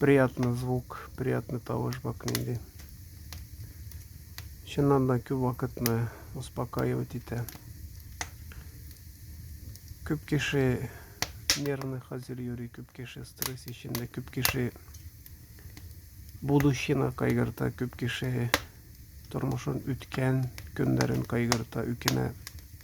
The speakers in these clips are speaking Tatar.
Приятный звук, приятный тавыш бак нинди. Чыннан да күп вакытны успокаивать итә. Күп кеше нервный хәзер йөри, күп кеше стресс эчендә, күп кеше будущина кайгырта, күп кеше тормышын үткән көннәрен кайгырта, үкенә.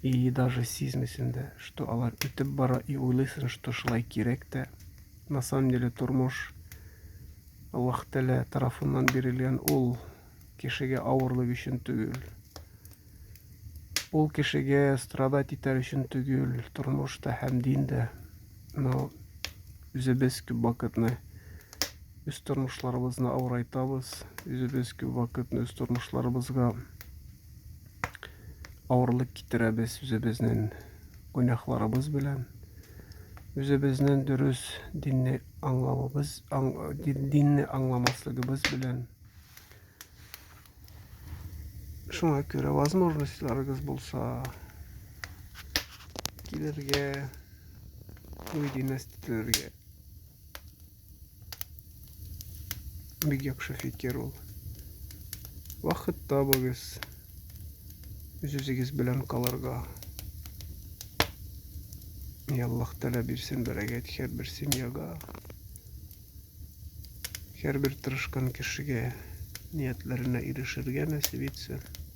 И даже сизмисен дә, что алар үтеп бара, и уйлыйсын, что шулай кирәк тә. На самом деле тормош Аллаһ Тәлә тарафыннан бирелгән ул кешегә авырлык өчен түгел. Ул кешегә страдать итәр өчен түгел, тормош та һәм дин дә. Но үзебез күп вакытны үз тормышларыбызны авырайтабыз, үзебез күп вакытны үз тормышларыбызга авырлык китерәбез үзебезнең гөнаһларыбыз белән үзебезнең дөрес динне аңлавыбыз аң, динне аңламаслыгыбыз белән шуңа күрә возможностьларыгыз булса килергә уй династияләргә Бик яхшы фикер ул. Вакыт табыгыз. Үз-үзегез белән калырга. И Аллаһ Тәгалә бирсен бәрәкәт һәрбер семьяга. Һәрбер тырышкан кешегә ниятләренә ирешергә нәсиб итсен.